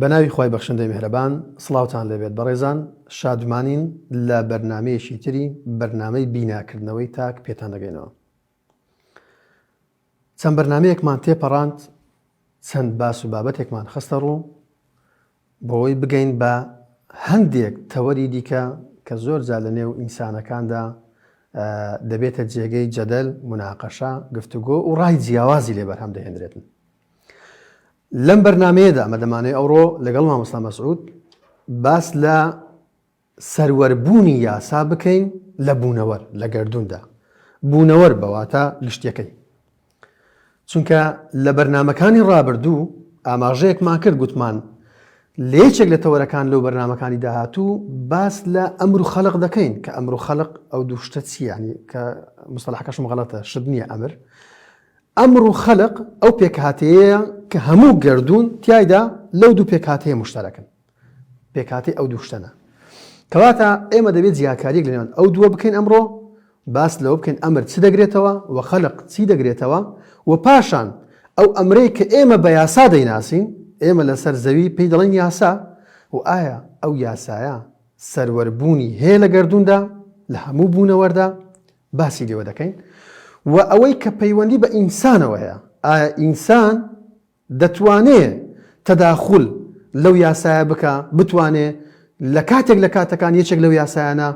بەناوی خوای بەخشندەی میهرەبان سڵاوتان لێبێت بەڕێزان شادمانین لە بەرنامەیەکی تری بەرنامەی بیناکردنەوەی تاک پێتان دەگەینەوە چەند بەرنمەیەکمان تێپەڕاند چەند باس و بابەتێکمان خستە ڕوو بۆی بگەین بە هەندێک تەوەری دیکە کە زۆر جا لە نێو ئینسانەکاندا دەبێتە جێگەی جەدەل مناقەشە گفتوگۆ و ڕای جیاوازی لێ بەرهەم دەهێنرێتن لەم بەرنمەیەدا ئەمە دەمانەی ئەوڕۆ لەگەڵ مامۆستا مەسعود باس لە سەروەربوونی یاسا بکەین لە بوونەوەر لە گردوندا بوونەوەر بەواتە گشتەکەی چونکە لە بەرنمەکانی ڕابردوو ئاماژەیەکمان کرد گوتمان لە یەکێک لە تەوەرەکان لەو بەرنمەکانی داهاتوو باس لە ئەمر و خەلق دەکەین کە ئەمر و خەلق ئەو دوو شتە چیانی کە مستەلاحەکەشم غڵەتە شت نییە ئەمر ئەمڕۆ خەلق ئەو پێکهاتەیەیە کە هەموو گەردوون تیایدا لەو دوو پێکهاتەیە موشتەرەکن، پێکهاتەی ئەو دوو شتەنە. کەواتە ئێمە دەبێت جیاکارییەک لە نێوان ئەو دووە بکەین ئەمڕۆ، باس لەوە بکەین ئەمر چ دەگرێتەوە و خەلق چی دەگرێتەوە و پاشان ئەو ئەمرەی کە ئێمە بە یاسا دەیناسین، ئێمە لەسەر زەوی پێی دەڵێین یاسا و ئایا ئەو یاسایە سەروەربوونی هەیە لە گەردووندا، لە هەموو بوونەوەردا؟ باسی لێوە دەکەین و ئەوەی کە پەیوەندی بە ئینسانەوە هەیە، ئایا ئینسان دەتوانێ تەداخول لەو یاسایە بکا، بتوانێ لە کاتێک لە کاتەکان یەکێک لەو یاسایانە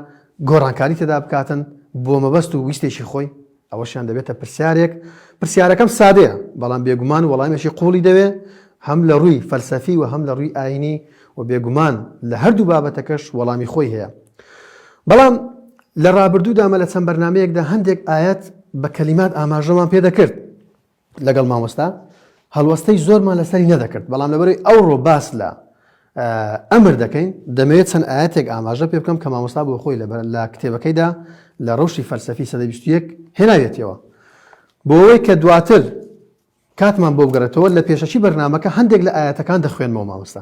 گۆڕانکاری تێدا بکاتن بۆ مەبەست و ویستێکی خۆی؟ ئەوەشیان دەبێتە پرسیارێک، پرسیارەکەم سادەیە، بەڵام بێگومان وەڵامێکی قووڵی دەوێ، هەم لە ڕووی فەلسەفی و هەم لە ڕووی ئایینی و بێگومان لە هەردوو بابەتەکەش وەڵامی خۆی هەیە. بەڵام لە ڕابردوودا مە لە چەند بەرنامەیەکدا هەندێک ئایەت بە کەلیمات ئاماژەمان پێ دەکرد لەگەڵ مامۆستا هەڵوەستەی زۆرمان لەسەری نەدەکرد بەڵام لەبەرەی ئەوڕۆ باس لە ئەمر دەکەین دەمەوێت چەند ئاەتێک ئاماژە پێ بکەم کە مامۆستا بۆ خۆی لەبەر لە کتێبەکەیدا لە ڕەوشی فەلسەفی سەدە بیستویەک هێناوێتەوە بۆەوەی کە دواتر کاتمان بۆ بگەڕێتەوە لە پێشەکی بەرنمەکە هەندێک لە ئاەتەکان دەخوێنمەوە مامۆستا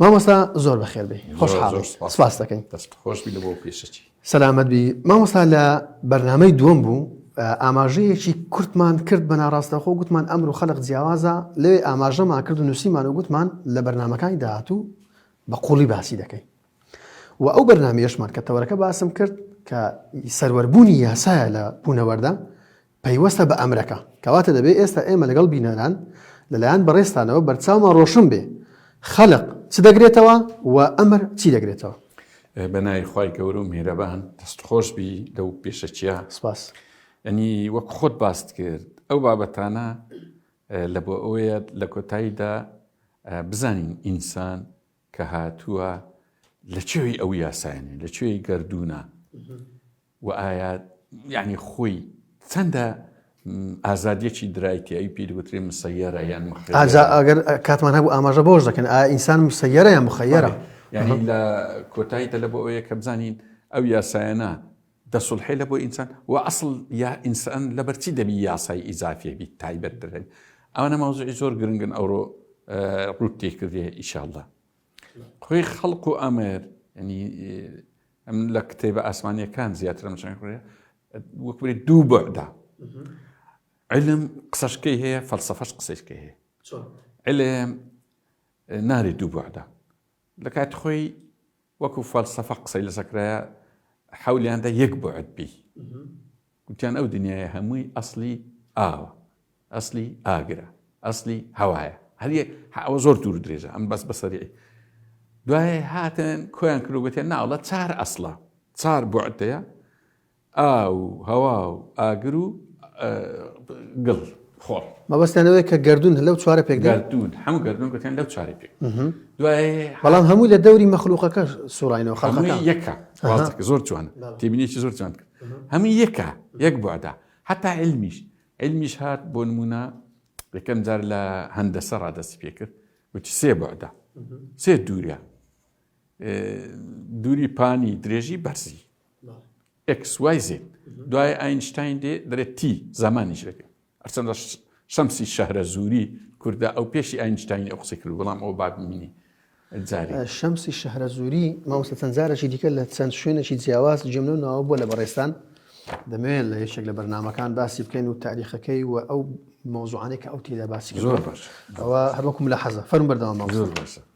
مامۆستا زۆر بەخێربێ خۆشحاڵ سپاس دەکەین سەلامەت بی مامۆستا لە بەرنمەی دووەم بوو ئاماژەیەکی کورتمان کرد بە ناڕاستەخۆ گوتمان ئەمر و خەلق جیاوازە لێ ئاماژەمان کرد و نووسیمان و گوتمان لە بەرنمەکانی داهاتوو بە قوڵی باسی دەکەین و ئەو بەرنمەشمان کە تەوەرەکە باسم کرد کە سەروەربوونی یاسایە لە بوونەوەدا پەیوەستە بە ئەمرەکە، کەواتە دەبێ ئێستا ئێمە لەگەڵ بینەران لە لایەن بەڕێزتانەوە بەرچاومان ڕۆشن بێ خەلق چ دەگرێتەوە و ئەمر چی دەگرێتەوە؟ بە ناوی خوای گەورە و میهرەبان، دەست خۆش بی لەو پێشەکیە. سپاس. ئەنی وەک خۆت باست کرد ئەو بابەتانە لە بۆ ئەوەیە لە کۆتاییدا بزانین ئینسان کە هاتووە لە چێوی ئەو یاسایانێ لە چێوی گردوونە وە ئایا یانی خۆی چەندە ئازادیەکی درایتیایی پێی دەوترێ مسەیەرە یان مخەیەرە؟ ئەگەر کاتمان هەبوو ئاماژە بەوەش دەکەن ئایا ئینسان مسەیەرە یان مخەیەرە؟ یعنی لە کۆتایی تەلە بۆ ئەوەیە کە بزانین ئەو یاسایانە دەسڵحێ لە بۆ ئینسان و ئەسڵ یا ئینسان لەبەرچی دەبی یاسای ئیزافیە بیت تایبەت دەبێت ئەوانە مەوزوعی زۆر گرنگن ئەوڕۆ ڕووت تێکردێ ئیشاءاللە. خوی خەڵق و ئامێر ینی ئەم لە کتێبە ئاسمانیەکان زیاتر مچەن خوێ وەکبێت دوو بەدا علم قسەشکەی هەیە فەلسفەش قسەشکە هەیە علم ناری دوو بەدا لە کات خۆی وەکو فەلسفە قسەی لەسەکرایە حولیاندا یەک بۆ عدبی گوتیان ئەو دنیایە هەمووی ئەسڵی ئاوە، ئەسڵی ئاگرە، ئەسڵی هەوایە، هەریەک ئەوە زۆر دوور درێژە ئەم بەس بە سەریعی دوای هاتن کۆیان کرد گوتیان ناوڵە چار ئەسڵە چار بۆعتەیە ئاو هەوا و ئاگر و گڵ خۆڵ مەبەستانەوەی کە گردون لەو چوارە پێک گردون هەموو گردون گوتیان لەو چارە پێک دوای بەڵام هەمووی لە دەوری مەخلوقەکە سوڕینەوە خەڵ یەکە زۆر جوان تێبینێکی زۆر جوان کرد هەمووی یەکە یەک بوعدە هەتا علمیش علمیش هات بۆ نمونە یەکەم جار لە هەندەسە ڕادەستی پێکرد وتی سێ بوعدە سێ دوورە دووری پانی درێژی بەرزی ئەکس وای زێت دوای ئاینشتین دێ دەرێت تی زمانیش لەکە هەرچەندە شەمسی شەهرەزووری کوردە، ئەو پێشی ئاینشتاینی ئەو قسەی کرد، بەڵام ئەوە با بمینی جاری. شەمسی شەهرەزووری، مامۆستا چەند جارێکی دیکە لە چەند شوێنێکی جیاواز گوێم لەو ناوە بووە لە بەڕێزتان، دەمەوێت لە یەکێک لە بەرنامەکان باسی بکەن و تاریخەکەی و ئەو مەوزوعانەی کە ئەو تێیدا باسی کرد. زۆر باش. ئەوە هەر وەکو ملاحەزە. فەرموو بەردەوام بە. زۆر باشە.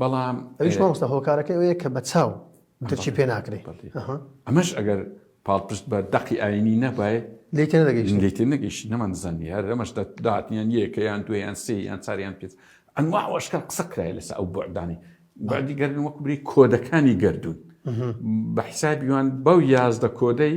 بەڵام ئەویش مامۆستا هۆکارەکەی ئەوەیە کە بە چاو درکی پێ ناکرێ ئەمەش ئەگەر پاڵپشت بە دەقی ئاینی نەبای لێ تێ نەگەیشتین لێ تێ نەگەیشتین نەمانزانی هەر ئەمەش داتنیان یەکەیان دوێیان سێیان چاریان پێ ئەنوا ئەوەشکە قسە کرای لەسەر ئەو بەعدانی بەعدی گەردن وەکو بری کۆدەکانی گردون بە حیسابیوان بەو یازدە کۆدەی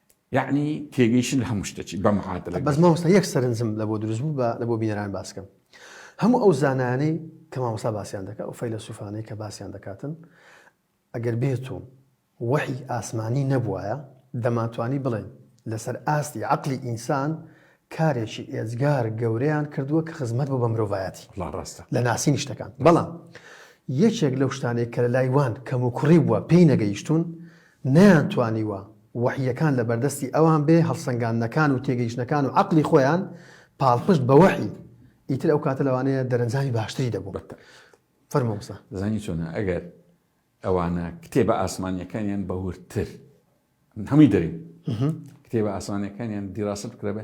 یەعنی تێگەیشتن لە هەموو شتەکی بە معادلە. بەس مامۆستا یەک سەرنجم لە بۆ دروست بوو با لە بۆ بینەران باس کەم. هەموو ئەو زانایانەی کە مامۆستا باسیان دەکات ئەو فەیلەسوفانەی کە باسیان دەکاتن ئەگەر بێت و وەحی ئاسمانی نەبوایە دەمانتوانی بڵێن لەسەر ئاستی عەقلی ئینسان کارێکی ئێجگار گەورەیان کردووە کە خزمەت بۆ بە مرۆڤایەتی ڕاستە لە ناسینی شتەکان بەڵام یەکێک لەو شتانێک کە لە لای وان کەم و کوڕی بووە پێی نەگەیشتون نەیانتوانیوە وەحییەکان لە بەردەستی ئەوان بێ، هەڵسەنگاندنەکان و تێگەیشتنەکان و عەقڵی خۆیان پاڵپشت بە وەحی، ئیتر ئەو کاتە لەوانەیە دەرەنجامی باشتری دەبوو. فەرموو مامۆستا. زانی چۆنە؟ ئەگەر ئەوانە کتێبە ئاسمانییەکانیان بە وردتر، هەمووی دەرێن، کتێبە ئاسمانییەکانیان دیراسە بکرابێ،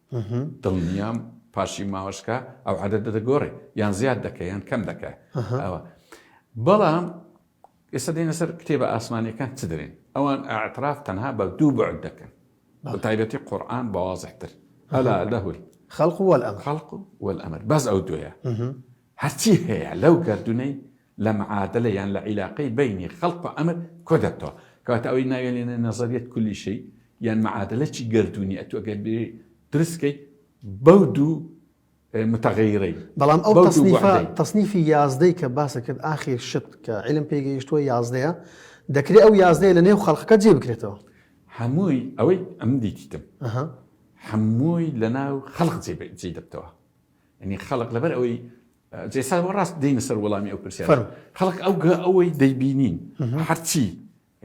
دڵنیام پاشی ماوەشکە ئەو عدەدە دەگۆڕێ یان زیاد دەکە یان کەم دەکە ئەوە بەڵام ئێستا دێنە سەر کتێبە ئاسمانەکان چ دەێن ئەوان ئاعتراف تەنها بە دوو بەعد دەکەن بە تایبەتی قورآن بەوازحتر ئەلا لەهول خەڵق وەل ئەم خەڵق وەل ئەمر بەس ئەو دوێە هەرچی هەیە لەو گردونەی لە معادلە یان لە عیلاقەی بەینی خەلق و ئەمر کۆ دەبتەوە. کەواتە ئەوەی ناویانێنە نەزەریەت کولی شەی یان معادلەی گەردوونی ئەتوو ئەگەر بیەی دروست کەی بەو دوو متغیرەی. بەڵام ئەو تەسنیفە تەسنیفی یازدەی کە باسە کرد ئاخیر شت کە عیلم پێی گەیشتووە یازدەیە دەکرێ ئەو یازدەیە لە نێو خەلقەکە جێ بکرێتەوە. هەمووی ئەوەی ئەم دیتیتم هەمووی لە ناو خەلق جێ دەبتەوە. ینی خەلق لەبەر ئەوەی جێ سا وە ڕاست دێینە سەر وەڵامی ئەو پرسیارە. فەرموو. خەڵک ئەو گە ئەوەی دەیبینین هەرچی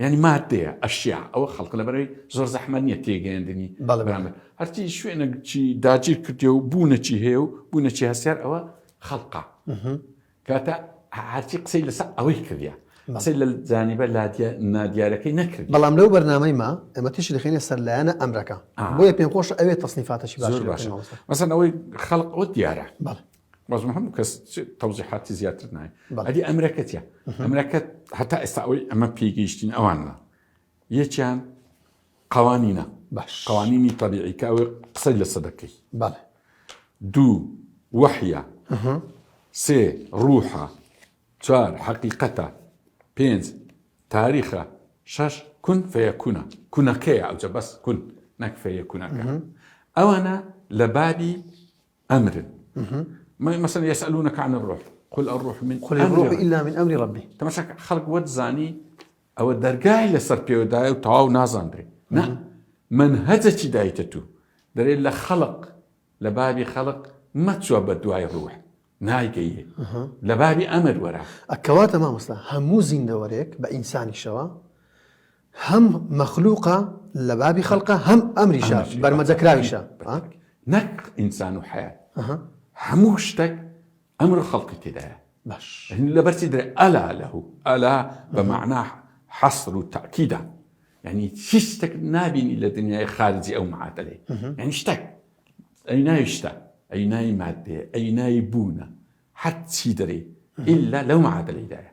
یانی مادەیە ئەشیا ئەوە خەڵک لەبەرەی زۆر زەحمەت نییە تێگەیاندنی بەڵێ بەرامبەر بەڵێ. هەرچی شوێنە چی داگیر کردێ و بوونەچی هەیە و بوونەچی هەستیار ئەوە خەڵقە کاتە هە هەرچی قسەی لەسەر ئەوەی کردە بەڵێ. قسەی لە جانیبە لادیا نادیارەکەی نەکردی. بەڵام لەو بەرنامەیما ئێمە تیشک دەخەینە سەر لایەنە ئەمرەکە. ئا. بۆیە پێم خۆشە ئەوێ تەسنیفاتەکی باشتر زۆر بکەین باشە مامۆستا. مەسەن ئەوەی خەڵق ئەوە دیارە بەڵێ. بەزم هەموو کەس تەوزیحاتی زیاتر نای ئەدی ئەمرەکەتە ئەمرەکەت هەتا ئێستا ئەوەی ئەمە پێگەیشتین ئەوانە یەکیان قوانینە باش قوانینی طبیعیکە ئەوەی قسەی لە سەدەکەی بەڵێ دوو وەحە سێ ڕوحە چوار حەقیقەتە پێنج تاریخە شەش کون فەیەکوونە کونەکەیە ئەوجە بەس کون نەک فەیەکوونەکە ئەوانە لە بابی ئەمرن مەسەن یەسەلونە کانە ڕۆح قل ئەڕۆح من قل ڕۆح ئیلا من ئەمری ڕبی تەمەشا خەڵک وەت زانی ئەوە دەرگای لەسەر پێوەدایە و تەواو نازانرێ نا من هەجەکی دایتە تو دەرێ لە خەڵق لە بابی خەڵق مەچوە بە دوای ڕوح نایگەیە لە بابی ئەمر وەرە ئەکەواتە مامۆستا هەموو زیندەوەرێک بە ئینسانیشەوە هەم مەخلوقە لە بابی خەلقە هەم ئەمریشە بەرمەجەکراویشە نەک ئینسان و حەیات هەموو شتەک ئەمر خەڵقی تێدایە باش لەبەرچی درێ ئەلا لەه ئەلا بە معناح حەسر و تاکیدا ینی چی شتێک نبینی لە دنیای خارجی ئەو معادلەی یعنی شتێک ئەی ناوی شتە ئەی ناوی مادێ ئەی ناوی بوونە حەت چی دەری ئللا لەو معادلەیدایە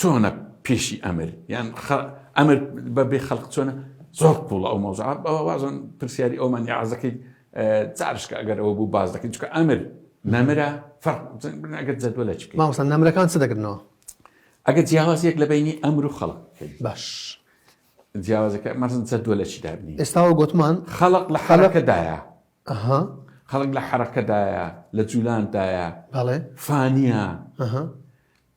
چۆنە پێشی ئەمر یان ئەمر بە بێ خەلق چۆنە زۆر قوڵە ئەو مەوزع بەوە وازن پرسیاری ئەومان یاعزەکەی جارشکە ئەگەر ئەوە بوو باز دەکەین چکە ئەمر نەمرە فەرگەر جەدوە لە چکە ماوەسە نەمرەکان چ دەگرنەوە ئەگە جیاوازیەک لە بینی ئەمر و خەڵک باش جیاوازەکە مەزن جەدوە لە چی دابنی ئێستاوە گوتمان خەڵق لە حەلەکەدایە ئەها خەڵک لە حەرەکەدایە لە جولاندایە بەڵێ فانیە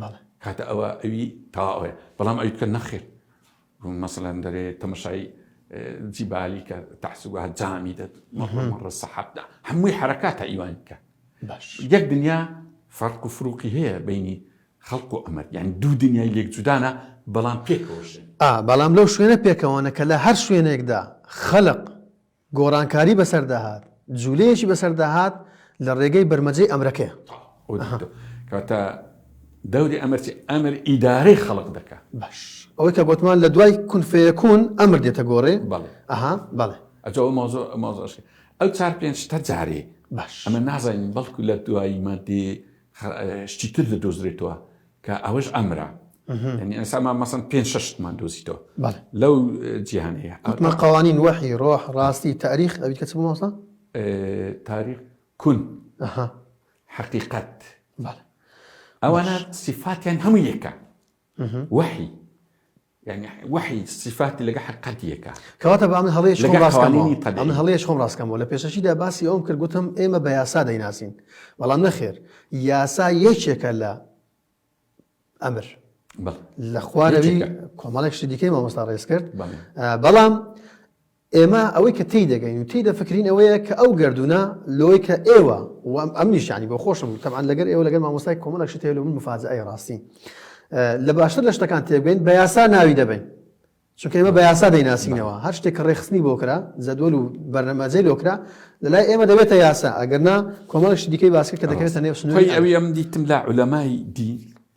بەڵێ. کاتە ئەوە ئەوی تەواوەیە بەڵام ئەوی کە نەخێر مەسەلەن دەرێ تەمەشای جیبالی کە تەحسوگا جامی دەت مەڕە سەحەبدا هەمووی حرەکاتە ئیوان بکە یەک دنیا فەرق و فروقی هەیە بینی خەڵق و ئەمەر یان دوو دنیای لێک جودانە بەڵام پێکەوەش بەڵام لەو شوێنە پێکەوەنە کە لە هەر شوێنێکدا خەلق گۆڕانکاری بەسەردا هات، جولەیەکی بەسەردا هات لە ڕێگەی بەرمەجەی ئەمرەکەیە. کەواتە دەوری ئەمر چییە؟ ئەمر ئیدارەی خەڵک دەکات. باش ئەوەی کە گۆتمان لە دوای کون فەیەکون ئەمر دێتە گۆڕێ. بەڵێ. ئەها بەڵێ. ئەجا ئەو مەوزوع مەوزوع شی. ئەو چار پێنج شتە جارێ. باش. ئەمە نازانین بەڵکو لە دوای ماددەی خە شتی تر دەدۆزرێتەوە. کە ئەوەش ئەمرە ینی ئەسامان مەسن پێ شەشتمان دۆزیتەوە لەو جیهانەیە ئەوتمە قوانین وەحی ڕۆح ڕاستی تاریخ ئەوی کە چ بۆسە تاریخ کون حقیقت ئەوانە سیفاتیان هەموو یەکە وەحی یانی وحی سیفاتی لەگە حقەتیەکە کەواتە بە من هەڵێش خۆم ڕاستکەمەوە من هەڵێش خۆم ڕاستکەمەوە لە پێشەشیدا باسی ئەوم کرد گوتم ئێمە بە یاسا دەیناسین بەڵام نەخێر یاسا یەکێکە لە ئەمر لە خوارەوی کۆمەڵێک شتی دیکەی مامۆستا ڕێز کرد بەڵام ئێمە ئەوەی کە تێی دەگەین و تێی دەفکرین ئەوەیە کە ئەو گەردوونە لۆی کە ئێوە و ئەمنیش یانی بۆ خۆشم تەبعەن لەگەر ئێوە لەگەر مامۆستای کۆمەڵێک شت هەیە لۆ من مفاجئەیە ڕاستی لە باشتر لە شتەکان تێبگەین بە یاسا ناوی دەبین چونکە ئێمە بە یاسا دەیناسینەوە هەر شتێک کە ڕێخستنی بۆ کرا جەدوەل و بەرنەمەجەی لۆکرا لەلای ئێمە دەبێتە یاسا ئەگەرنا کۆمەڵش دیکەی باسکە کە دەکەوێتە نێو سنووری ئەوی ئەم دیتم لە علەمای دی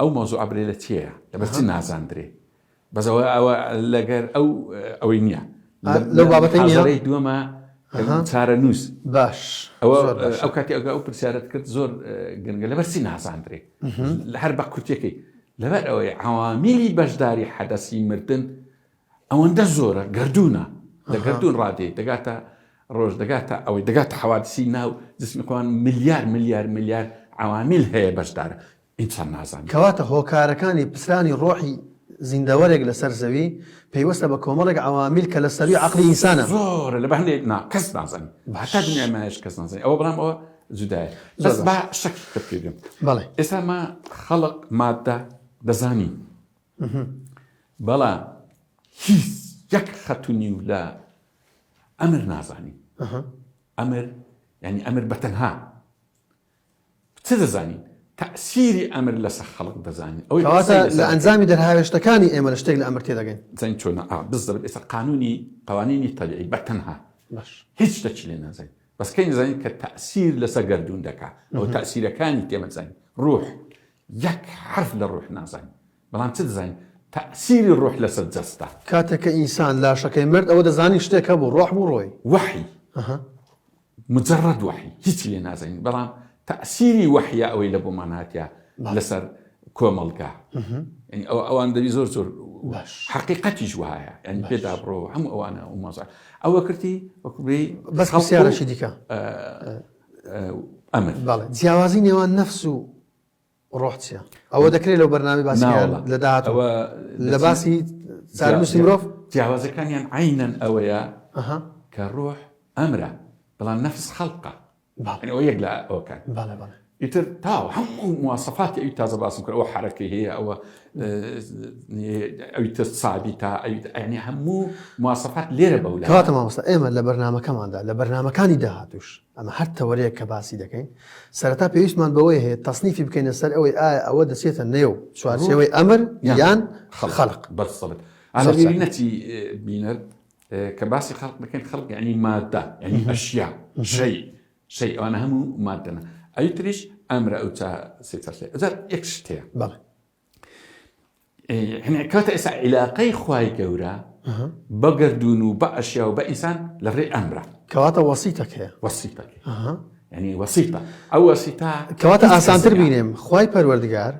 ئەو مەوزوعە برێ لە چێە لەبەر چ نازاندرێ بەس ئەوە ئەوە لەگەر ئەو ئەوەی نییە لەو بابەتەی دووەمە چارە نووس باش ئەوە ئەو کاتی ئەگە ئەو پرسیارت کرد زۆر گەنگە لەبەر چی نازاندرێ لە هەر بە کورتەکەی لەبەر ئەوەی عوامیلی بەشداری حەدەسی مردن ئەوەندە زۆرە گەردوونە لە گەردوون ڕادێ دەگاتە ڕۆژ دەگاتە ئەوەی دەگاتە حەوادسی ناو جسمی خۆیان ملیار ملیار ملیار عەوامیل هەیە بەشدارە ئینسان نازانێت. کەواتە هۆکارەکانی پچرانی ڕۆحی زیندەوەرێک لەسەر زەوی پەیوەستە بە کۆمەڵێک عەوامیل کە لە سەرووی عەقڵی ئینسانە. زۆرە لە بەهەندێک نا کەس نازانێت هەتا دنیای مایەش کەس نازانێت ئەوە بەڵام ئەوە جودایە بەس با شەکیکە پێ بێم بەڵێ ئێستا ما خەڵق ماددە دەزانین. بەڵام هیچ یەک خەت و نیو لە ئەمر نازانین ئەمر یعنی ئەمر بەتەنها چ دەزانین تەسیری ئەمر لەسە خەڵک دەزانین ئەوەی لە ئەنجامی دەرهاوێشتەکانی ئێمە لە شتێک لە ئەمر تێدەگەین زەنگ چۆن بزر ئێستا قانونی قوانینی تەبیعی بەتەنها هیچ شتەکی لێ نازانین بەسکەی نزانین کە تەسیر لەسەر گردون دەکات ئەو تەسیرەکانی تێمەزانین ڕوح یەک حەرف لە ڕوح نازانین، بەڵام چ دەزانین تەئسیری ڕوح لەسەر جەستە. کاتێک کە ئینسان لاشەکەی مرد ئەوە دەزانین شتێک هەبوو، ڕۆح بوو ڕۆی. وەحی، ئەها. مجەڕەد وەحی، هیچی لێ نازانین، بەڵام تەئسیری وەحیە ئەوەی لە بۆمان هاتیە لەسەر کۆمەڵگا. یانی ئەوە ئەوان دەبی زۆر زۆر باش. حەقیقەتیش وایە، یانی پێ دابڕۆوە هەموو ئەوانە ئەو مەزە ئەوە کردی وەکوو بێی. بەس پرسیارەکی دیکە. ئەمن. بەڵێ جیاوازی نێوان نەفس و ڕۆح چیە؟ ئەوە دەکرێت لەو بەرنامەی باسی نا واللە. لە داهاتوو ئەوە لە دەچین- باسی چارەنووسی جیا- مرۆڤ جیاوازەکانیان عەینەن ئەوەیە ئەها کە ڕۆح ئەمرە بەڵام نەفس خەلقە بەڵێ. یەعنی ئەوە یەک لە ئەوەکان بەڵێ بەڵێ ئیتر تاوە هەموو مواسەفاتی ئەوی تازە باسم کرد ئەوە حەرەکەی هەیە ئەوە ئەویتە سابی تا ئەویتنی هەموو مواسەفات لێرە بە کاتە مامۆستا ئێمە لە بەرنمەکەماندا لە بەرنمەکانی داهاتوش ئەمە هەر تەوەرەیە کە باسی دەکەین سەرتا پێویستمان بەوەی هەیە تەسنیفی بکەینە سەر ئەوەی ئایا ئەوە دەچێتە نێو چوارچەوەی ئەمر یان خەڵق بەسەڵک نەتی بینەر کە باسی خەڵق بکەین خەڵک ینی مادە ینی ئەشیا ژەی سەیر ئەوانە هەموو مادەنە ئەوی تریش ئەمرە ئەو چا سێتەسێ ئەجار یەک شت هەیە بەڵێ کاتە ئێستا عیلاقەی خوای گەورە بە گردون و بە ئەشیا و بە ئینسان لە ڕێ ئەمرە کەواتە وەسیتەک هەیە وەسیتەک ینی وەسیتە ئەو وەسیتا کەواتە ئاسانتر بینێم خی پەروەردگار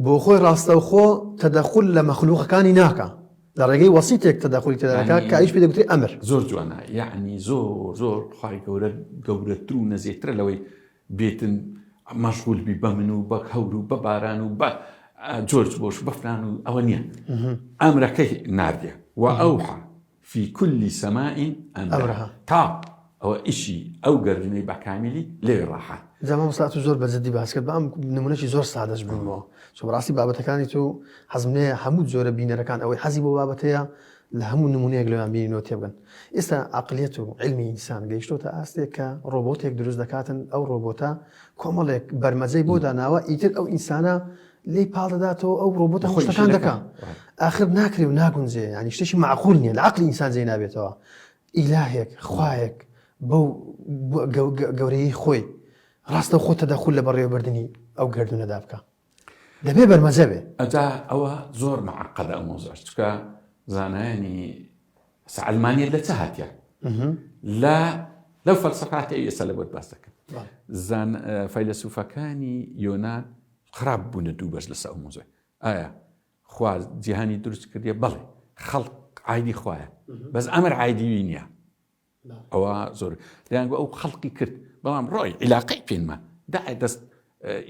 بۆ خۆی ڕاستەوخۆ تەدەخول لە مەخلووقەکانی ناکا، لە ڕێگەی وەسیتێک تەدەخولی تێدا دەکا کە ئەویش پێی دەگوترێ ئەمر. زۆر جوانە یەعنی زۆر زۆر خوای گەورە گەورەتر و نەزیهترە لەوەی بێتن مەشغول بی بە من و بە هەور و بە باران و بە جۆرج بۆش بەفران و ئەوە نییە ئەمرەکەی ناردیە وە ئەوحا فی کل سماء امرا تا ئەوە ئیشی ئەو گەردونەی بەکامیلی لەوێ ڕاحە. جا مامۆستا تۆ زۆر بە جدی باس کرد بەم نمونەشی زۆر سادەش بوومەوە چۆ بەڕاستی بابەتەکانی تو حەزم لێ هەموو جۆرە بینەرەکان ئەوەی حەزی بۆ بابەتەیە لە هەموو نمونەیەک لەوان بینینەوە تێبگەن ئێستا عقلیەت و علمی ئینسان گەیشتۆتە ئاستێک کە ڕۆبۆتێک دروست دەکاتن ئەو ڕۆبۆتە کۆمەڵێک بەرمەجەی بۆ داناوە ئیتر ئەو ئینسانە لێی پاڵ دەداتەوە ئەو ڕۆبۆت هەموو خۆی شتەکان شیرەکە. دەکا وای. ئاخر ناکرێ و ناگونجێ ینی شتێکی معقول نییە لە عەقلی ئینسان جێی نابێتەوە ئیلاهێک خوایەک بەو بۆ- گەو- گە- گەورەیی خۆی ڕاستە خۆ تەدەخول لە بەڕێوەبردنی ئەو گەردوونەدا بکا دەبێ بەرمەجە بێ ئەجا ئەوە زۆر مەعقەدە ئەو مۆزەش چکە زانایانی سەعلمانیت لە چ هاتیە لە لەو فەلسەفاتەی ئێستا لە بۆت باس دەکەم زان فەیلەسوفەکانی یۆنان خراپ بونە دوو بەرز لەسە ئەو موزە ئایا خوا جیهانی دروست کردیە بەڵێ خەڵق عیدی خوایە بەس ئەمر عیدیوی نییە ئەوە زۆر دەیان ئەو خەڵقی کرد بەڵام ڕۆی عیلاقی پێنمە دا دەست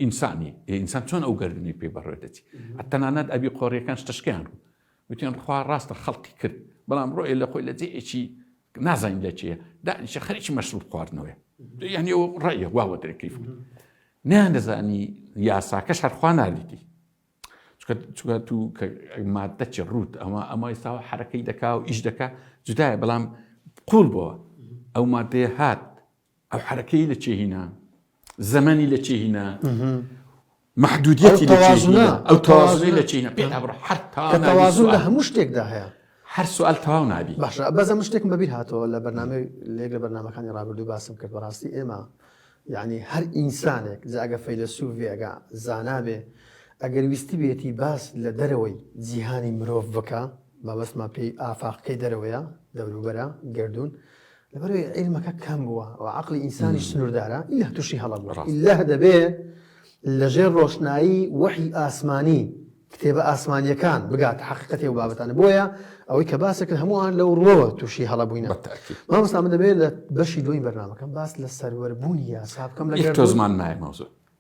ئینسانی ئینسان چۆن ئەو گردنی پێ بەڕێ دەچی تەنانەت ئەبی قۆریەکان شتشکیان ڕوو وتیان خوا ڕاستە خەڵقی کرد بەڵام ڕۆی لە خۆی لە جێ ئەچی نازانین لە چێە دانیشە خەریکی مەشروب خواردنەوەی یعنی ئەو ڕێە واوە دەکەیف نیان دەزانی یاساکەش هەرخوا نالیتی چکە تو مادە چ ڕوت ئەمە ئەمە ئێستاوە حرەکەی دەکا و ئیش دەکا جدایە بەڵام قوڵ بۆ ئەو مادەیە هات ئەو حەرەکەی لە چێ هینا زەمەنی لە چێ هینا محدودیەتی لە چێ هینا ئەو تەوازنەی لە چێ هینا پێ نابڕ هەر تا کە تەوازن لە هەموو شتێکدا هەیە هەر سوال تەواو نابی باشە بەزە من شتێکم بەبیر هاتەوە لە بەرنامەی لێک لە بەرنمەکانی ڕابردوو باسم کرد بەڕاستی ئێمە یعنی هەر ئینسانێک جاگە فەیلسوف بێگا زانابێ ئەگەر ویستی بێتی باس لە دەرەوەی جیهانی مرۆڤ بکە مەبەستمە پێی ئافاقەکەی دەرەوەیە دەوروبەرە گردردون لەبەرەی عیلمەکە کەم بووە و عقلی ئینسانیش سنووردارە ئیلا تووشی هەڵە بووە ئیلا دەبێ لەژێر ڕۆشنایی وەحی ئاسمانی کتێبە ئاسمانیەکان بگات حقیقەتی و بابەتانە بۆیە ئەوەی کە باسە کرد هەمووان لەو ڕوەوە تووشی هەڵە بووین مامستا من دەبێت لە بەشی دوی بەرنمەکەم باس لە سەروەربوونی یاسا بکەم لە تۆزمان نایمەوزە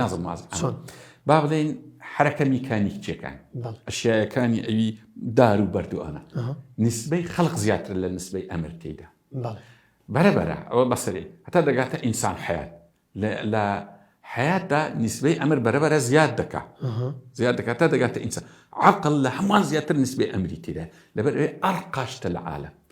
نازم واز چۆن با بڵێن حرەکە میکانیکچەکان ئەشیایەکانی ئەوی دار و بەردوانە نسبەی خەڵق زیاتر لە نسبەی ئەمر تێدا بەرەبەرە ئەوە بەسەری هەتا دەگاتە ئینسان حیات لە حیاتدا نسبەی ئەمر بەرەبەرە زیاد دەکا زیاد دەکات تا دەگاتە ئینسان عقل لە هەمان زیاتر نسبەی ئەمری تێدا لەبەر ئەرقاشتە لە عاالە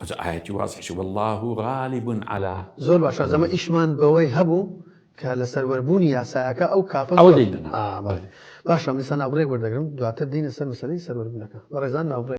ئەجا ئایەتی وازحیش واللە غالب علی. زۆر باشە ئەمە ئیشمان بەوەی هەبوو کە لەسەر وەربوونی یاسایەکە ئەو کاپە زۆر ئەوە دەینا ئا بەڵێ باشە من ئێستا ناوبڕێک وەردەگرم دواتر دێینە سەر مەسەلەی سەروەربوونەکە بەڕێزان ناوبڕێک.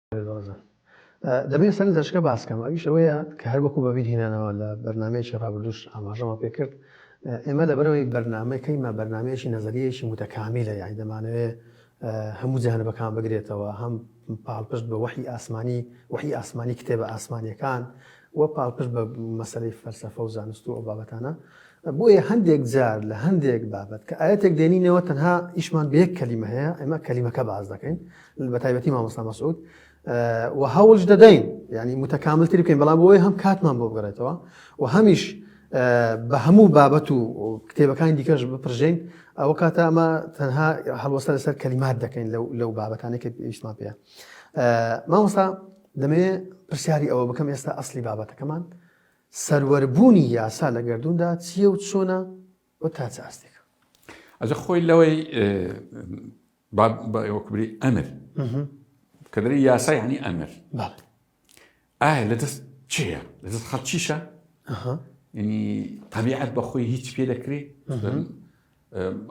دۆزن. دەبێت سەرنجەشکە باس کەم ئەویش ئەوەیە کە هەر وەکو بەبیر هینانەوە لە بەرنامەیەکی ڕابردوش ئاماژەمە پێ کرد ئێمە لەبەرەوەی بەرنامەی کەیمە بەرنامەیەکی نەزەریەیەکی متەکامیلە یانی دەمانەوێ هەموو جانبەکان بگرێتەوە هەم پاڵپشت بە وەحی ئاسمانی وەحی ئاسمانی کتێبە ئاسمانیەکان و پاڵپشت بە مەسەلەی فەلسەفە و زانست و ئەو بابەتانە، بۆیە هەندێک جار لە هەندێک بابەت کە ئایەتێک دێنینەوە تەنها ئیشمان بە یەک کەلیمە هەیە، ئێمە کەلیمەکە باس دەکەین بە تایبەتی مامۆستا مەسعود و هەوڵش دەدەین یعنی متەکاملتری بکەین بەڵام بۆی هەم کاتمان بۆ بگەڕێتەوە و هەمیش بە هەموو بابەت و کتێبەکانی دیکەش بپرژین ئەو کاتە ئەمە تەنها هەڵوەسە لەسەر کەلیمات دەکەین لەو بابەتانێک ئیشمان پێ مامۆستا دەمەوێ پرسیاری ئەوە بکەم ئێستا ئەسلی بابەتەکەمان سەروەربوونی یاسا لە گردوندا چییە و چۆنە و تا چ ئاستێک ئەجە خۆی لەوەی بەوەکبری ئەمر کە دەری یاسای هەنی ئەمر ئایا لە دەست چیە لە دەست خەڵکیشە ینی تەبیعەت بەخۆی هیچ پێ دەکرێت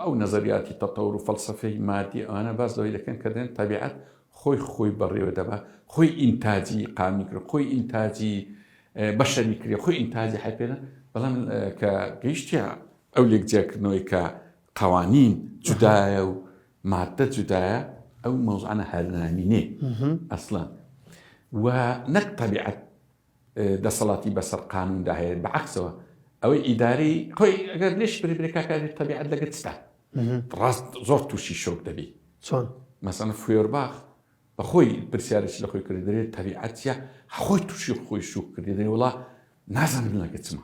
ئەو نەزەریاتی تەتەور و فەلسەفەی مادی ئەوانە باس لەوەی دەکەن کە دەن تەبیعەت خۆی خۆی بەڕێوە دەبا خۆی ئینتاجی قامی کرد خۆی ئینتاجی بەشەری کرێ خۆی ئینتاجی حەپێنە بەڵام کە گەیشتە ئەو لێک جیاکردنەوەی کە قوانین جودایە و مادە جودایە ئەو مەوزانە هەرنامینێ ئەسڵان و نەک تەبیعەت دەسەڵاتی بەسەر قانوندا هەیە بەعەکسەوە ئەوەی ئیداری خۆی ئەگەر لێش بری کاکاری تەبیعەت لەگەت ستا ڕاست زۆر تووشی شۆک دەبی چۆن مەسەن فێرباخ بەخۆی پرسیارێکی لە خۆی کرد دەێت تەبیعەتە خۆی تووشی خۆی شوک کرد دەێ وڵا نازانم لەگەچمە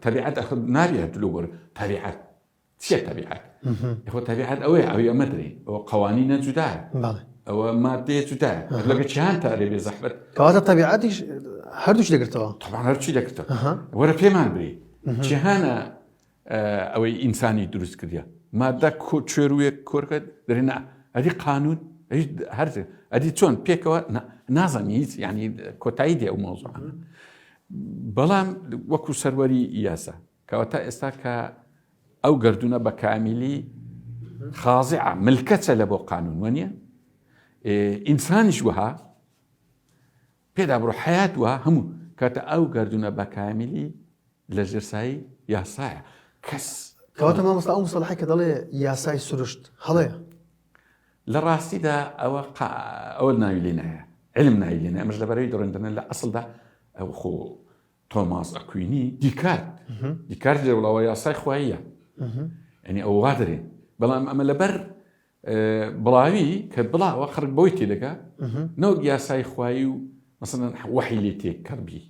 تەبیعەت نابێت دلو بەر تەبیعەت چیە تەبیعەت؟ یەخۆ تەبیعەت ئەوەیە ئەوی ئەمە درێ ئەوە قەوانینە جودایە ئەوە مادەیە جودایە لەگە چیان تا لێ بێ زەحبەت کەواتە تەبیعاتیش هەردووش دەگرتەوە تەبان هەرچی دەگرتە وەرە پێمان بری جیهانە ئەوەی ئینسانی دروست کردە مادە کۆ چێروێک کۆرکەت درێنا ئەدی قانون هەر ئەدی چۆن پێکەوە نازانانی هیچ ینی کۆتایی دێ و مۆزوعانە بەڵام وەکو سەروەری یاسا کەواتە ئێستا کە ئەو گردونە بە کامیلی خازعە ملکەچە لە بۆ قانون وە نیە ئینسانیش وەها پێدا بڕۆ حیات وە هەموو کاتە ئەو گردونە بە کامیلی لە ژێرسایی یاسایە کەس کەواتە مامۆستا ئەو مسەڵحی کە دەڵێ یاسای سروشت هەڵەیە لە ڕاستیدا ئەوە ئەوە ناوی لێ نایە علم ناوی لێنە ئەمەش لەبەرەوەی دڕندنە لە ئەسڵدا ئەو خۆ تۆماس ئەکوینی دیکارت دیکارت لێ وڵاوە یاسای خواییە ئەنی ئەو وا دەرێن بەڵام ئەمە لەبەر بڵاوی کە بڵاوە خەرک بۆی تێ دەکە نەوەک یاسای خوایی و مەسەن وەحی لێ تێک کەڕبی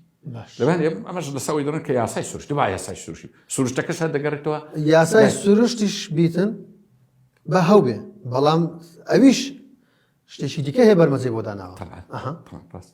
لەبان ئەمەش لەسەوەی دەڕن کە یاسای سروشت با یاسای سروشی سروشتەکەش هەر دەگەڕێتەوە یاسای سروشتیش بیتن بە هەوێ بەڵام ئەویش شتێکی دیکە هەیە بەرمەزی بۆ داناوە ڕاست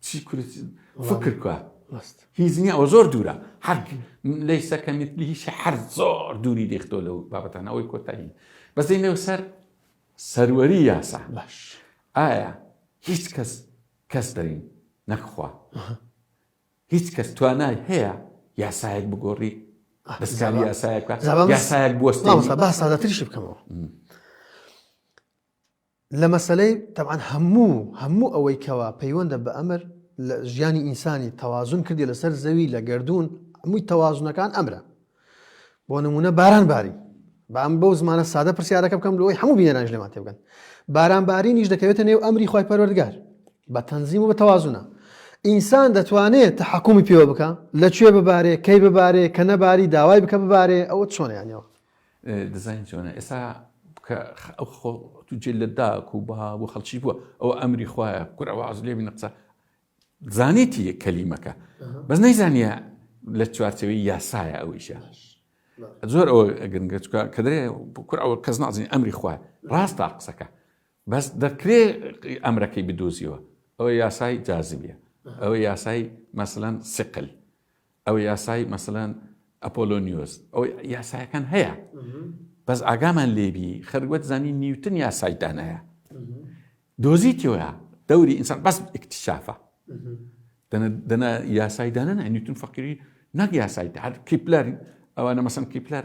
چی کورت فکر کە هیچ نییە ئەوە زۆر دوورە حەک لەی سەکە میتلی هیچ حەر زۆر دووری دەختۆ لەو بابەتان ئەوەی کۆتایی بەزەی نێو سەر سەروەری یاسا باش ئایا هیچ کەس کەس دەرین نەخوا هیچ کەس توانای هەیە یاسایەک بگۆڕی دەستکاری یاسایەک یاسایەک بوەستە باسادەتریش بکەمەوە لە مەسەلەی تەبعەن هەموو هەموو ئەوەی کەوا پەیوەندە بە ئەمر لە ژیانی ئینسانی تەوازن کردی لەسەر زەوی لە گردردون هەمووی تەوازنەکان ئەمرە بۆ نمونە باران باری بام بەو زمانە سادە پرسیارەکە بکەم لەوەی هەموو بینەرانش لەمان تێ بگەن بارانبارینیش دەکەوێتە نێو ئەمری خی پەروەردگار بە تەنزیم و بە تەوازونە ئینسان دەتوانێت تحکومی پێوە بکە لە کوێ ببارێ کەی ببارێ کە نەباری داوای بکە ببارێ ئەوە چۆنیانەوە دزاین چۆنە ئێسا کە ئەو خۆ تو جێ لە داک و بە بۆ خەڵکی بووە ئەو ئەمری خوایە کورە واز لێ بینە قسە زانێتی یە کەلیمەکە بەس نەیزانە لە چوارچەوەی یاسایە ئەویشە زۆر ئەوە گرنگە چکە کە دەێ کور ئەوە کەس نازین ئەمری خوای ڕاست تا قسەکە بەس دەکرێ ئەمرەکەی بدۆزیەوە ئەوە یاسای جازبیە ئەوە یاسای مەسلەن سقل ئەوە یاسای مەسەلەن ئەپۆلۆنیۆس ئەو یاسایەکان هەیە بەس ئاگامان لێبی خەروەت زانی نیوتن یاسای دانایە دۆزیتەوە دەوری ئینسان بەس اکتشافە دەنا یاسای دانە نیوتن فەقیری نەک یاسای هەر کیپلەر ئەوانە مەسم کیپلەر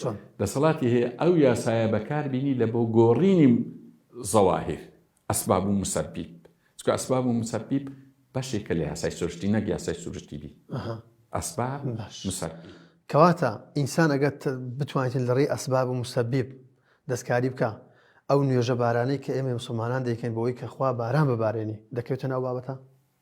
چۆن دەسەڵاتی هەیە ئەو یاسایە بەکار بینی لە بۆ گۆڕینی زەواهیر ئەسباب و مسەبیب چکە ئەسباب و مسەبیب بەشێکە لە یاسای سروشتی نەک یاسای سروشتی بی ئەسباب مسەر کەواتە ئینسان ئەگەت بتوانێتن لە ڕێی ئەسباب و مسەبیب دەستکاری بکە ئەو نوێژە بارانەی کە ئێمە مسلمانان دەکەین بۆی کە خوا باران ببارێنی دەکەوێتە ناو بابەتە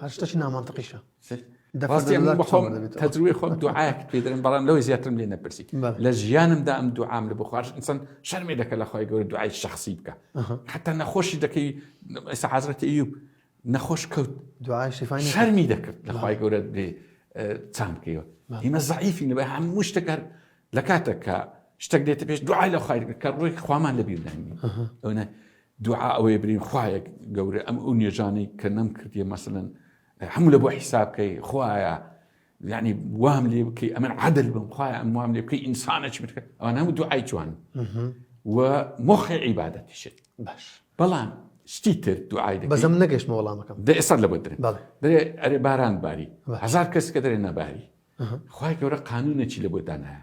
هەر شتەکی نامەنتقیشە دە ڕاستی پەنجا من دۆلار بەخۆم چۆن دەبێتەوە؟ تەجروبەی خۆم دوعایەکت پێ دەرێن بەڵام لەوەی زیاترم لێ نەپرسی بەڵێ. لە ژیانمدا ئەم دوعام لە بخواش ئینسان شەرمێ دەکە لە خۆی گەورە دوعای شخصی بکە ئەها. حتا نەخۆشی دەکەی ئێستا حەزرەتی ئەیوب نەخۆش کەوت دوعای شیفای نەکرد. شەرمی دەکرد لە خی گەورە بێ اه، چام بکەیەوە ئیمە زعیفی لەبەر هەموو شتێک هەر لە کاتێک کە شتێک دێتە پێش دوعای لە خی کە ڕووی خوامان لە بیرداین ئەوە دوعا ئەوەیە برین خوایە گەورە ئەم ئەو نوێژانەی کە نەمکردیە مەسەن هەموو لە بۆ حیساب بکەی خوایە ینی وام لێ بکەی ئەمن عادل بم خوای ئەم وام لێ بکەی ئینسانە چ بکە ئەوان هەموو دوعای جوان و مۆخی عیباەتیشت باش بەڵام شتی تر دوعای بەزم نەگەشتمە وەڵامەکەم دە ئێستا لە بەدرێ دەێ ئەرێ باران باری هزار کەس کە دەرێ نەباری خی گەورە قانونێکی لە بۆ دانایە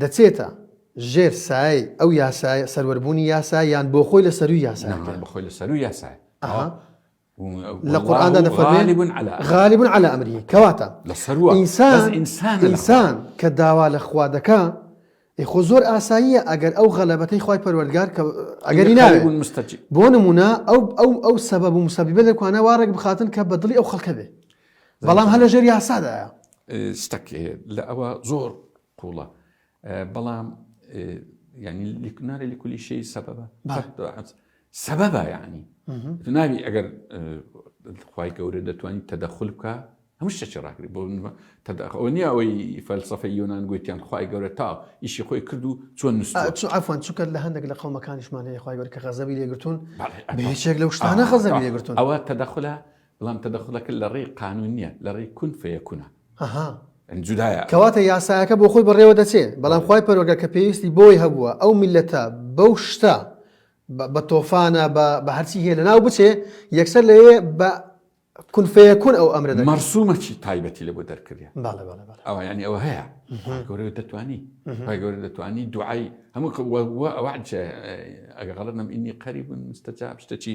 دەچێتە ژێر سایەی ئەو یاسایە سەروەربوونی یاسا یان بۆ خۆی لە سەرووی یاسایە نەمان بە خۆی لە سەرووی یاسایە ئەها لە قورئاندا دەفەرمێ غالب علی امره کەواتە لە سەروە ئینسان ئینسان ئینسان کە داوا لە خوا دەکا ئێ خۆ زۆر ئاساییە ئەگەر ئەو غەلەبەتەی خوای پەروەردگار کە ئەگەری ناوێت مستەجی بۆ نمونە ئەو ئەو ئەو سەبەب و مسەبیبە لەکوانە وا ڕێک بخاتن کە بەدڵی ئەو خەڵکە بێ بەڵام هەر لەژێر یاسادایە شتەک لە ئەوە زۆر قوڵە بەڵام ینی لکناری لە کولی شەی سەبەبە سەبەبە یعنی ناوی ئەگەر خی گەورە دەتوانین تەدەخل بکە هەموو شتێکی ڕاگری بۆ تەداخەوە نییە ئەوەی فەلسفە یۆناان گوتیان خی گەورە تا ئیشی خۆی کرد و چۆن نووسفان چکە لە هەندێک لە قەومەکانیشمان هەیە خی گەور کە غەزەبی لێگرتون بەچێک لە شتانە خەزەبی لێگرتون ئەوە تەدەخلە بەڵام تەدەخولەکە لە ڕێی قانون نیە لە ڕێی کون فەیەکونە. ئەها. یانی جودایە. کەواتە یاسایەکە بۆ خۆی بەڕێوە دەچێ بەڵام خوای پەروەردگار کە پێویستی بۆی هەبووە ئەو میللەتە بەو شتە بە تۆفانە بە بە هەرچی هەیە لەناو بچێ یەکسەر لەوێ بە کون فەیەکون ئەو ئەمرە دەکا. مەرسومە چی تایبەتی لە بۆ دەرکردە. بەڵێ بەڵێ بەڵێ. ئەوە یانی ئەوە هەیە. خوای گەورە دەتوانی. خوای گەورە دەتوانی دوعای هەموو وە وە ئەوە ئەگەر غەڵەت نەم ئینی قەریب مستەجاب شتەکی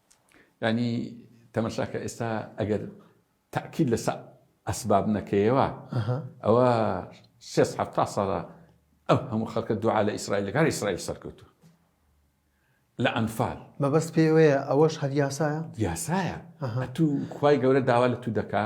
یانی تەمەشاکە ئێستا ئەگەر تاکیل لەسە ئەسباب نەکەیەوە ئەوە سێ حتا ساڵە ئەو هەموو خەکە دوعا لە ئیسرائیل لەگار ئیسرائیل سەرکەوتو لە ئەنفال مەبەست پێوەیە ئەوەش هەر یاسایە یاسایە تو خی گەورە داوا لە تو دەکا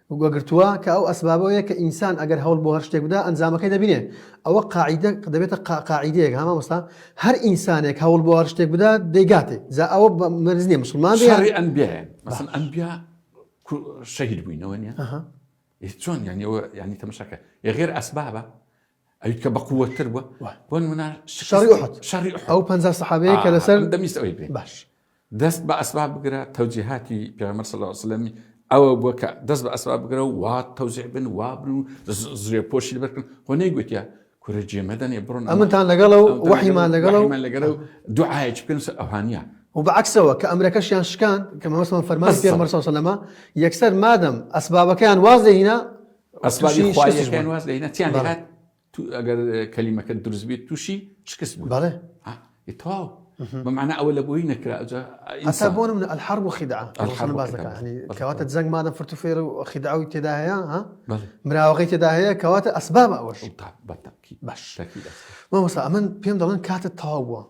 گوگرتووە کە ئەو ئەسبابە یە کە ئینسان ئەگەر هەوڵ بۆ هەر شتێک بدا ئەنجامەکەی دەبینێ ئەوە قاعیدە دەبێتە قاعیدەیەک ها مامۆستا هەر ئینسانێک هەوڵ بۆ هەر شتێک بدا دەیگاتێ جا ئەوە مەرج نییە مسوڵمان بێ شەڕی ئەنبیایە مەسەڵەن ئەنبیا شەهید بووینەوە نییە ئەها چۆن یانەوە یانی تەمەشاکە یە غێر ئەسبابە ئەوی کە بەقووەت تر بووە بۆ نمونە شەڕی ئوحد شەڕی ئوحد ئەو پەنجا سەحابەیە کە لەسەر دەمیست ئەوی بێ باش دەست بە ئەسباب بگرە تەوجیهاتی پێغەمبەر صلی الله علیه وسلم ئەوە بووە کە دەست بە ئەسباب بگرە و وا تەوزیع بن وا بن و زرێ پۆشی لەبەر بکەن خۆ نەیگوتیە کورە جێمەدەنێ بڕۆن ئەمنتان لەگەڵە و وەحیمان لەگەڵە و لەگەڵە و دوعاەکی بکەن ئەوهانە و بەعکسەوە کە ئەمرەکەشیان شکان کە مەمەسمان فەرمان پێغەمبەر صلی الله علیه وسلم یەکسەر مادەم ئەسبابەکەیان واز لێ هینا ئەسبابی خواییەکەیان واز لێ هێنا تیان هات ئەگەر کەلیمەکە دروست بێت تووشی شکست بوو بەڵێ تەواو بەمانە ئەوە لە بۆی نەکرا ئەسا بۆ من ئەلحەر و خیدا کەواتە جەنگ مادە فرت و فێر و خیداوی تێدا هەیە مراوەقی تێدا هەیە کەواتە ئەسباب ئەوەش باش مامۆسا ئەمن پێم دەڵێن کاتت تەواو بووە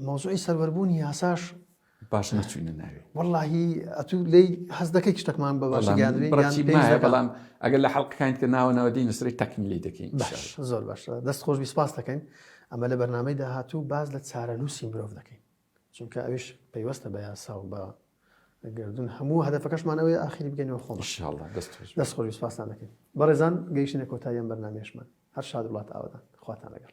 مۆزوعی سەربەربوونی یاساش باش نەچوینە ناوی وەڵی ئەتو لی هەز دەکەی شتەکمان بە باش بەڵام ئەگەر لە حڵقەکان کە ناوە ناوەدی نووسری تەکنیلی دەکەین زۆر باش دەست خۆش بیسپاس دەکەین ئەمە لە بەرنمەی داهاتوو باز لە چارەنووسی مرۆڤ دەکەین چونکە ئەوش پەیوەستە بە یاسا و بە گردون هەموو هەدفەکەشمانەوەی ئاخری بگەینەوە خۆ دەست خۆش سپاسان دەکەین بەڕێزان گەیشتە کۆتاییان بەرنمێشمان هەر شاد وڵات ئاوادان خواتان لەگەڵ